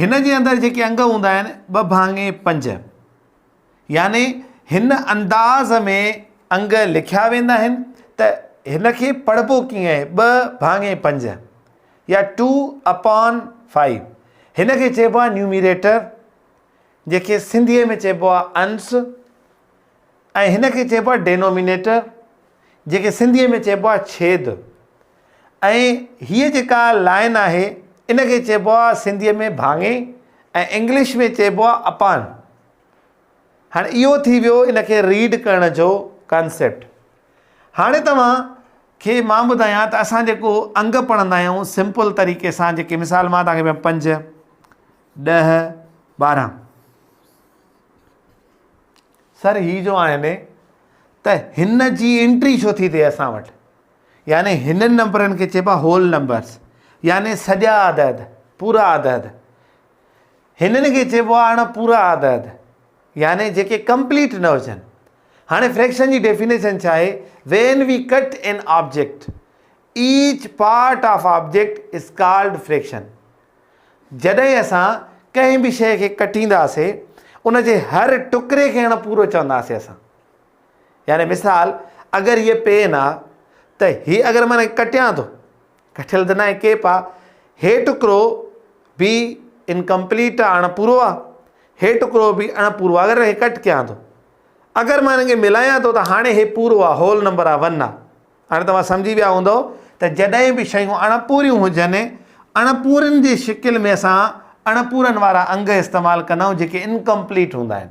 هن جي اندر جيڪي انگ هوندا آهن ٻه ڀاڱي پنج يعني هن انداز ۾ انگ لکيا ويندا آهن ته هن کي پڙهبو ڪيئن آهي ٻه ڀاڱي پنج يا ٽو اپان فائيو هن کي چئبو آهي نيوميريٽر جيڪي سنڌيء ۾ چئبو آهي انس ۽ هن کي چئبو آهي ڊينومينيٽر جيڪي سنڌيء ۾ چئبو آهي ڇيد ۽ هيء جيڪا لائن آهي ان کي چئبو آهي سنڌيء ۾ ڀاڱي ۽ انگلش ۾ چئبو آهي اپان. هاڻي اهو ٿي ويو ان کي ريڊ ڪرڻ جو ڪانسيپٽ. هاڻي توهان کي مان ٻڌايان ته اسان جيڪو انگ پڙهندا آهيون سمپل طريقي سان جيڪي مثال مان توهان کي ڏيان پنج، ڏهه، ٻارهن. سر هي جو آهن ته هن جي انٽري ڇو ٿي ٿئي اسان وٽ؟ يعني هنن نمبرن کي چئبا هول نمبرس يعني سڄا عدد، پورا عدد. هنن کي چئبو آهي اڻ پورا عدد يعني جيڪي ڪمپليٽ نه هجن. هاڻي فريڪشن جي ڊيفينيشن ڇا آهي؟ When we cut an object, each part of object is called fraction. جڏهن اسان ڪنهن به شيء کي ڪٽينداسين، ان جي هر ٽڪري کي اڻ پورو چونداسين اسان. يعني مثال اگر هيء پين آ ته هي اگر مان ڪٽيان ٿو ڪٽيل ته ناهي ڪيپ آ هي ٽڪرو به انڪمپليٽ آ اڻ پورو آ هي ٽڪرو به اڻ پورو آ اگر هي ڪٽ ڪيان ٿو اگر مان هنن کي ملايان ٿو ته هاڻي هي پورو آ هول نمبر آ ون آ هاڻي توهان سمجهي ويا هوندو ته جڏهن به شيون اڻ پوريون هجن اڻ پورن جي شڪل ۾ اسان اڻ پورن وارا انگ استعمال ڪندا آهيون جيڪي انڪمپليٽ هوندا آهن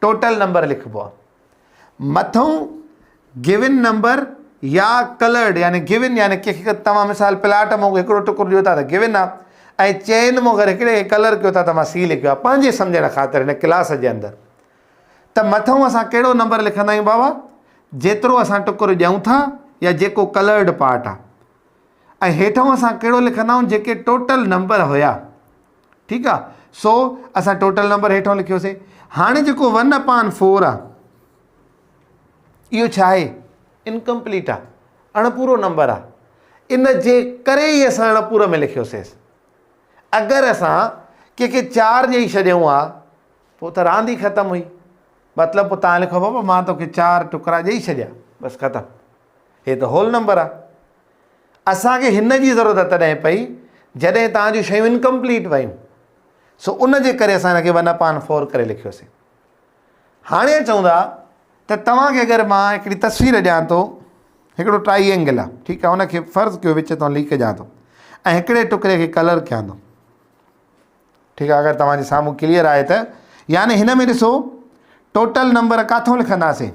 ٽوٽل نمبر لکبو آهي. مٿئون گيون نمبر يا ڪلرڊ يعني گيون يعني ڪنهن کي توهان مثال پلاٽ مون کي هڪڙو ٽڪر ڏيو ٿا ته گيون آهي ۽ چين مون اگر هڪڙي کي ڪلر ڪيو ٿا ته مان سي لکيو آهي پنهنجي سمجهڻ خاطر هن ڪلاس جي اندر ته مٿئون اسان ڪهڙو نمبر لکندا آهيون بابا جيترو اسان ٽڪر ڏيون ٿا يا جيڪو ڪلرڊ پارٽ آهي ۽ هيٺئون اسان ڪهڙو لکندا آهيون جيڪي ٽوٽل نمبر هيا ٺيڪ آ سو اسان ٽوٽل نمبر هيٺون لکيوسي هاڻي جيڪو ون اپان فور آ اهو ڇا آهي انڪمپليٽ آ اڻپورو نمبر آ ان جي ڪري ئي اسان اڻپورو ۾ لکيوسي اگر اسان ڪنهنکي چار ڏيئي ڇڏيون آ پو ته راند ئي ختم هئي مطلب پو تان لکو بابا مان توکي چار ٽڪرا ڏيئي ڇڏيا بس ختم هي ته هول نمبر آ اسان کي هن جي ضرورت تڏهن پئي جڏهن توهان جون شيون انڪمپليٽ ويون سو ان جي ڪري اسان هن کي ون اپان فور ڪري لکيوسين هاڻي چون ٿا ته توهان کي اگر مان هڪڙي تصوير ڏيان ٿو هڪڙو ٽرائي اينگل آ ٺيڪ آ ان کي فرض ڪيو وچ تان ليڪ ڏيان ٿو ۽ هڪڙي ٽڪري کي ڪلر ڪيان ٿو ٺيڪ آ اگر توهان جي سامهون ڪليئر آهي ته يعني هن ۾ ڏسو ٽوٽل نمبر ڪاٿو لکنداسين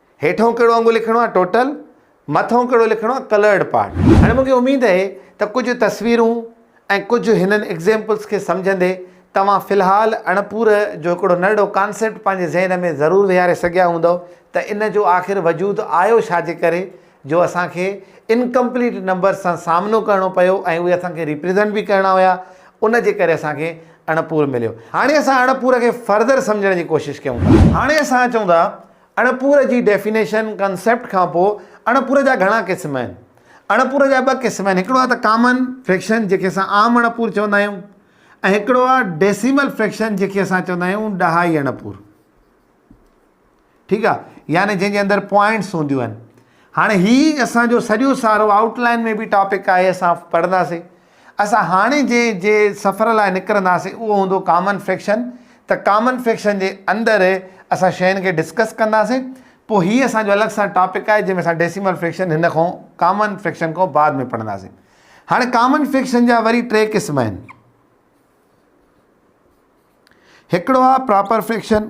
هيٺئون ڪهڙو انگ لکڻو آهي Total مٿئون ڪهڙو لکڻو آهي Colored Part. هاڻي مون کي اميد اهي ته ڪجهه تصويرون ۽ ڪجهه هنن Examples کي سمجهندي توهان في الحال اڻپور جو هڪڙو نرڙو Concept پنهنجي ذهن ۾ ضرور ويهاري سگهيا هوندؤ ته ان جو آخر وجود آيو ڇا جي ڪري جو اسان کي Incomplete Numbers سان سامنو ڪرڻو پيو ۽ اهي اسان کي Represent به ڪرڻا هيا ان جي ڪري اسان کي اڻپور مليو. هاڻي اسان اڻپور کي Further سمجهڻ جي ڪوشش ڪيون ٿا. هاڻي اسان اچون ٿا اڻپوري جي ڊيفينيشن، ڪنسيپٽ، کان پوء اڻپوري جا گهڻا قسم آهن. اڻپوري جا ٻه قسم آهن، هڪڙو آهي ته ڪامن فريڪشن جنهن کي اسان عام اڻپور چوندا آهيون ۽ هڪڙو آهي ڊيسيمل فريڪشن جنهن کي اسان چوندا آهيون ڏهائي اڻپور. ٺيڪ آهي يعني جنهن جي اندر پوائنٽس هونديون آهن. هاڻي هي اسان جو سڄو سارو آئوٽ لائن ۾ به ٽاپڪ آهي اسان پڙهنداسين. اسان هاڻي جنهن جي سفر لاء نڪرنداسين اهو هوندو ڪامن فڪشن ته ڪامن فڪشن جي اندر اسان شين کي ڊسڪس ڪنداسين پوء هي اسان جو الڳ سان ٽاپڪ آهي جنهن ۾ اسان ڊيسيمل فڪشن هن کان ڪامن فڪشن کان بعد ۾ پڙهنداسين هاڻي ڪامن فڪشن جا وري ٽي قسم آهن هڪڙو آهي پراپر فڪشن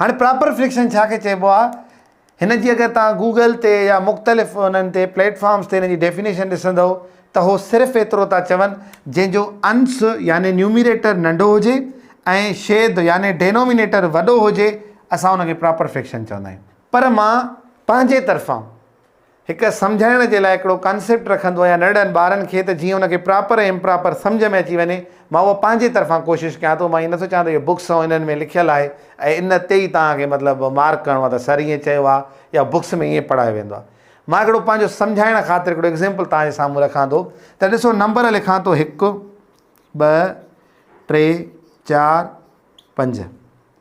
هاڻي پراپر فليڪشن ڇا کي چئبو آهي هن جي اگر توهان گوگل تي يا مختلف انهن تي پليٽ فارمس تي هن جي ڊيفينيشن ڏسندو ته هو صرف ايترو ٿا چون جنهن جو انس يعني نيوميريٽر ننڍو هجي ۽ شيد يعني ڊينومينيٽر وڏو هجي اسان ان کي پراپر فليڪشن چوندا آهيون پر مان پنهنجي طرفان هڪ سمجهائڻ جي لاء هڪڙو ڪانسيپٽ رکندو آهيان ننڍڙن ٻارن کي ته جيئن ان کي پراپر ۽ امپراپر سمجهه ۾ اچي وڃي مان اهو پنهنجي طرفان ڪوشش ڪيان ٿو مان ائين نٿو چوان ته اهي بڪس ۽ انهن ۾ لکيل آهي ۽ ان تي ئي توهان کي مطلب مارڪ ڪرڻو آهي ته سر ائين چيو آهي يا بڪس ۾ ائين پڙهايو ويندو آهي مان هڪڙو پنهنجو سمجهائڻ خاطر هڪڙو ايگزيمپل توهان جي سامهون رکان ٿو ته ڏسو نمبر لکان ٿو هڪ ٻه ٽي چار پنج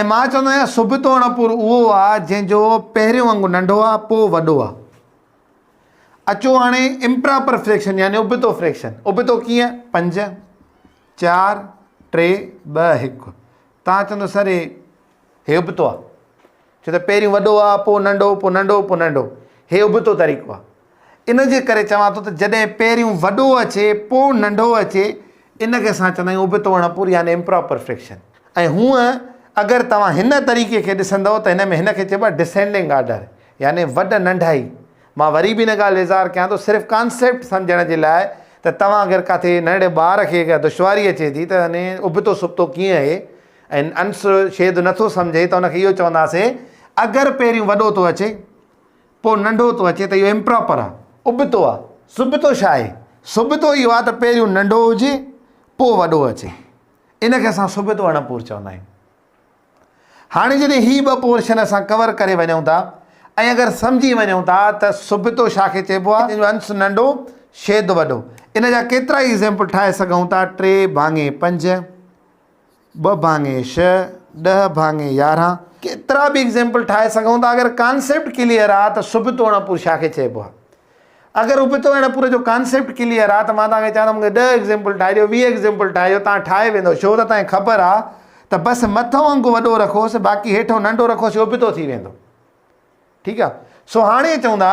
۽ مان چوندو آهيان سڀ تون اڻپور اهو آ جنهن جو پهريون انگ ننڍو آ پو وڏو آ. اچو هاڻي امپراپر فريڪشن يعني ابتو فريڪشن ابتو ڪيئن پنج چار ٽي ٻه هڪ تان چوندو سر هي ابتو آ ڇو ته پهريون وڏو آ، پوء ننڍو، پوء ننڍو، پوء ننڍو. هي ابتو طريقو آ. ان جي ڪري چوان ٿو ته جڏهن پهريون وڏو اچي، پوء ننڍو اچي، ان کي اسان چوندا آهيون ابتو اڻپوري يعني Improper Fraction. ۽ هونء اگر توهان هن طريقي کي ڏسندؤ ته هن ۾ هن کي چئبو آهي Descending Order يعني وڏ ننڍائي. مان وري به ان ڳالهه اظهار ڪيان ٿو صرف ڪانسيپٽ سمجهڻ جي لاء ته توهان اگر ڪاٿي ننڍڙي ٻار کي اگر دشواري اچي ٿي ته يعني ابتو سبتو ڪيئن اهي ۽ انس شيد نٿو سمجهي ته ان کي اهو چونداسين اگر پهريون وڏو ٿو اچي پوء ننڍو ٿو اچي ته اهو امپراپر آهي، ابتو آهي، سبتو ڇا آهي؟ سبتو اهو آهي ته پهريون ننڍو هجي پوء وڏو اچي، ان کي اسان سبتو اڻپور چوندا آهيون. هاڻي جڏهن هي ٻه پورشن اسان ڪور ڪري وڃون ٿا ۽ اگر سمجهي وڃون ٿا ته سبتو ڇا کي چئبو آهي جو انس ننڍو شيد وڏو ان جا ڪيترائي ايگزيمپل ٺاهي سگهون ٿا ٽي ڀاڱي پنج، ٻه ڀاڱي شھ ڏھ ڀاڱي يارھن ڪيترا به ايگزيمپل ٺاهي سگهون ٿا اگر ڪانسيپٽ ڪليئر آ ته سبتو اڻپور ڇا کي چئبو آ اگر ابتو اڻپور جو ڪانسيپٽ ڪليئر آ ته مان توهان کي چوان ٿو مون کي ڏھ ايگزيمپل ٺاهي ڏيو ويهه ايگزيمپل ٺاهي ڏيو توهان ٺاهي ويندو ڇو ته توهان کي خبر آ ته بس مٿو انگ وڏو رکوس باقي هيٺو ننڍو رکوس ابتو ٿي ويندو ٺيڪ آ سو هاڻي چون ٿا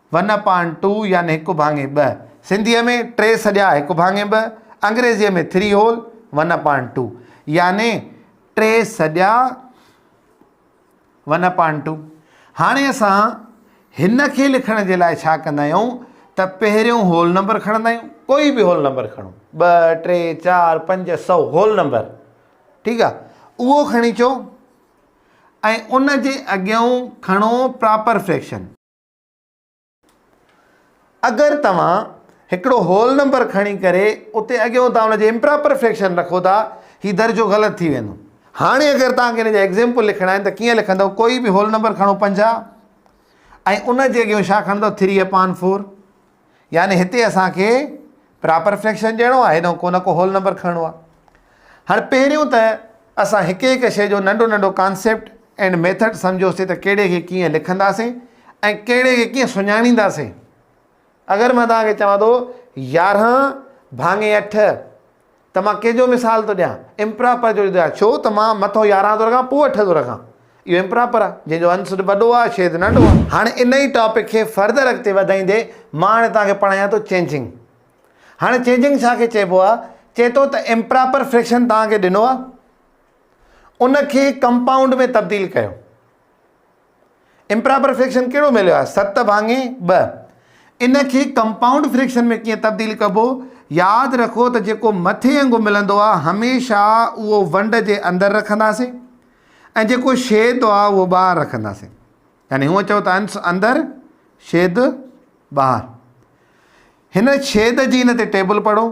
ون اپان ٽو يعني هڪ ڀاڱي ٻه، سنڌيء ۾ ٽي سڄا هڪ ڀاڱي ٻه، انگريزيء ۾ Three Whole One Upon Two يعني ٽي سڄا ون اپان ٽو. هاڻي اسان هن کي لکڻ جي لاء ڇا ڪندا آهيون ته پهريون هول نمبر کڻندا آهيون، ڪوئي به هول نمبر کڻو، ٻه، ٽي، چار، پنج، سؤ، هول نمبر، ٺيڪ آ، اهو کڻي اچو ۽ ان جي اڳيئون کڻو پراپر فريڪشن. اگر توهان هڪڙو هول نمبر کڻي ڪري اتي اڳيون تان ان جي امپراپر فريڪشن رکو ٿا هي درجو غلط ٿي ويندو هاڻي اگر توهان کي ان جا ايگزيمپل لکڻا آهن ته ڪيئن لکندو ڪوئي به هول نمبر کڻو پنجاهه ۽ ان جي اڳيون ڇا کڻندو ٿري اپان فور يعني هتي اسان کي پراپر فريڪشن ڏيڻو آهي هيڏانهن ڪو نه ڪو هول نمبر کڻڻو آهي هاڻي پهريون ته اسان هڪ هڪ شيء جو ننڍو ننڍو ڪانسيپٽ اينڊ ميٿڊ سمجهيوسي ته ڪهڙي کي ڪيئن لکنداسين ۽ ڪهڙي کي ڪيئن سڃاڻينداسين اگر مان توهان کي چوان ٿو يارهن ڀاڱي اٺ ته مان ڪنهن جو مثال ٿو ڏيان؟ امپراپر جو ٿو ڏيان، ڇو ته مان مٿو يارهن ٿو رکان، پوء اٺ ٿو رکان. اهو امپراپر آهي، جنهن جو انس وڏو آهي، شيد ننڍو آهي. هاڻي انهيء ٽاپڪ کي فردر اڳتي وڌائيندي، مان هاڻي توهان کي پڙهايان ٿو چينجنگ. هاڻي چينجنگ ڇا کي چئبو آهي؟ چئي ٿو ته امپراپر فريڪشن توهان کي ڏنو آهي، ان کي ڪمپائونڊ ۾ تبديل ڪيو. امپراپر فريڪشن ڪهڙو مليو آهي ست ڀاڱي ٻه ان کي ڪمپائونڊ فريڪشن ۾ ڪيئن تبديل ڪبو ياد رکو ته جيڪو مٿي انگ ملندو آهي هميشه اهو ونڊ جي اندر رکنداسين ۽ جيڪو شيد آهي اهو ٻاهر رکنداسين يعني هو چئو ته انس اندر شيد ٻاهر هن شيد جي هن تي ٽيبل پڙهو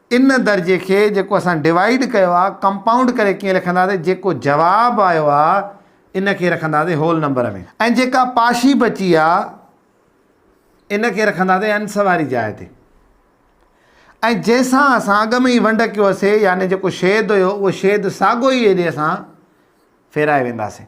ان درجي کي جيڪو اسان ڊوائيڊ ڪيو آ ڪمپائونڊ ڪري ڪيئن لکنداسين جيڪو جواب آيو آ ان کي رکنداسين هول نمبر ۾ ۽ جيڪا پاشي بچي آ ان کي رکنداسين انس واري جاء تي ۽ جنهن سان اسان اڳ ۾ ئي ونڊ ڪيو هوسي يعني جيڪو شيد هيو اهو شيد ساڳو ئي هيڏي اسان ڦيرائي وينداسين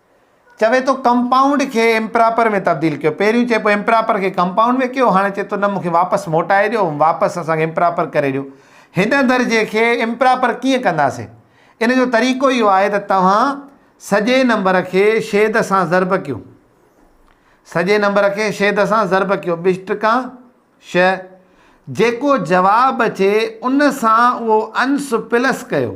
چوي ٿو ڪمپائونڊ کي امپراپر ۾ تبديل ڪيو پهريون چئي پيو امپراپر کي ڪمپائونڊ ۾ ڪيو هاڻي چئي ٿو نه مون کي واپس موٽائي ڏيو واپس اسان کي امپراپر ڪري ڏيو هن درجي کي امپراپر ڪيئن ڪنداسين ان جو طريقو اهو آهي ته توهان سڄي نمبر کي شيد سان ضرب ڪيو سڄي نمبر کي شيد سان ضرب ڪيو ٻش ٽڪا شيء جيڪو جواب اچي ان سان اهو انس پلس ڪيو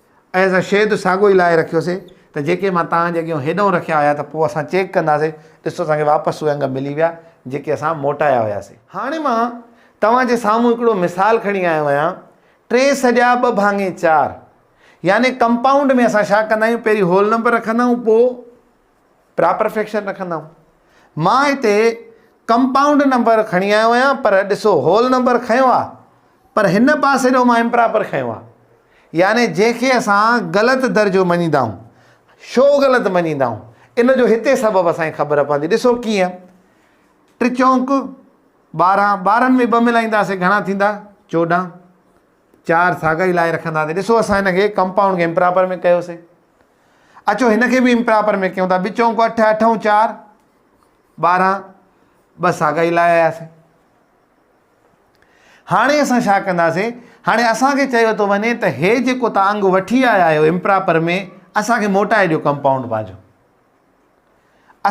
۽ اسان شيء جو ساڳيو ئي لاهي رکيوسين ته جيڪي مان توهان جي اڳيون هيڏانهن رکيا هيا ته پوء اسان چيڪ ڪنداسين، ڏسو اسان کي واپس اهي انگ ملي ويا جيڪي اسان موٽايا هياسين. هاڻي مان توهان جي سامهون هڪڙو مثال کڻي آيو آهيان، ٽي سڄا ٻه ڀاڱي چار يعني ڪمپائونڊ ۾ اسان ڇا ڪندا آهيون پهرين هول نمبر رکندا آهيون پوء. پراپر فيڪشن رکندا آهيون مان هتي ڪمپائونڊ نمبر کڻي آيو آهيان پر ڏسو هول نمبر کنيو آهي پر هن پاسي ڏو مان امپراپر کنيو آهي يعني جنهن کي اسان غلط درجو مڃيندا آهيون شو غلط مڃيندا آهيون ان جو هتي سبب اسان کي خبر پوندي ڏسو ڪيئن ٽي چونڪ ٻارهن ٻارهن ۾ ٻه ملائينداسي گهڻا ٿيندا چوڏهن چار ساڳا ئي لائي رکنداسي ڏسو اسان هن کي ڪمپائونڊ کي امپراپر ۾ ڪيوسي اچو هن کي به امپراپر ۾ ڪيون ٿا ٻه چونڪو اٺ اٺ ۽ چار ٻارهن ٻه ساڳا ئي لائي آياسي هاڻي اسان ڇا ڪنداسي هاڻي اسان کي چيو ٿو وڃي ته هي جيڪو تان انگ وٺي آيا آهيو امپراپر ۾ اسان کي موٽائي ڏيو ڪمپائونڊ پنهنجو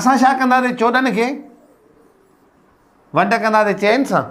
اسان ڇا ڪنداسي چوڏهن کي ونڊ ڪنداسي چئن سان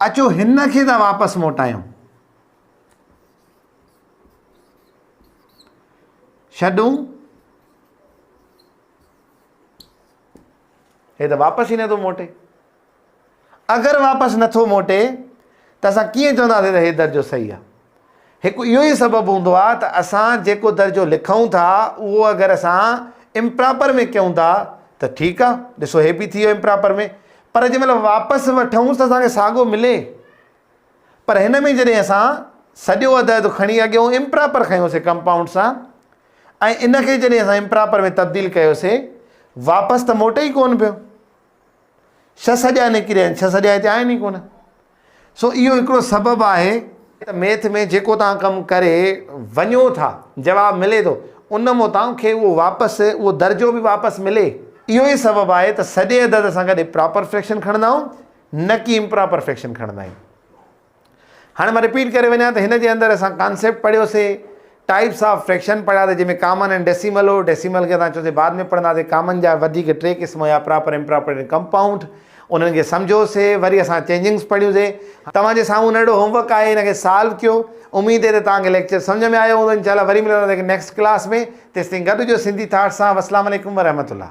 اچو هن کي ته واپس موٽايون. ڇڏون. هي ته واپس ئي نٿو موٽي. اگر واپس نٿو موٽي ته اسان ڪيئن چونداسين ته هي درجو صحيح آهي. هڪ اهو ئي سبب هوندو آهي ته اسان جيڪو درجو لکون ٿا اهو اگر اسان امپراپر ۾ ڪيون ٿا ته ٺيڪ آهي ڏسو هي به ٿي ويو امپراپر ۾ پر جنهن مهل واپس وٺون ته اسان کي ساڳو ملي پر هن ۾ جڏهن اسان سڄو عدد کڻي اڳيون امپراپر کنيوسي ڪمپائونڊ سان ۽ ان کي جڏهن اسان امپراپر ۾ تبديل ڪيوسي واپس ته موٽي ئي ڪون پيو ڇهه سڄا نڪري ويا آهن ڇهه سڄا هتي آهن ئي ڪونه سو اهو هڪڙو سبب آهي ته ميٿ ۾ جيڪو توهان ڪم ڪري وڃو ٿا جواب ملي ٿو ان مان توهان کي اهو واپس اهو درجو به واپس ملي اهو ئي سبب آهي ته سڄي عدد سان گڏ پراپر فريڪشن کڻندا آهيون نه ڪي امپراپر فريڪشن کڻندا آهيون هاڻي مان رپيٽ ڪري وڃان ته هن جي اندر اسان ڪانسيپٽ پڙهيو سي، ٽائيپس آف فريڪشن پڙهيا سي جنهن ۾ ڪامن ۽ ڊيسيمل هو، ڊيسيمل کي اسان چيو سي بعد ۾ پڙهندا سي، ڪامن جا وڌيڪ ٽي قسم هيا پراپر، امپراپر ۽ ڪمپائونڊ، انهن کي سمجهيو سي، وري اسان چينجنگس پڙهيون سي. توهان جي سامهون ننڍڙو هوم ورڪ آهي ان کي سالو ڪيو، اميد اهي ته توهان کي ليڪچر سمجهه ۾ آيو هوندو، انشاء الله وري ملنداسي هڪ نيڪسٽ ڪلاس ۾، تيستائين گڏ هجو سنڌي ٿاٽس سان، والسلام عليڪم ورحمة الله.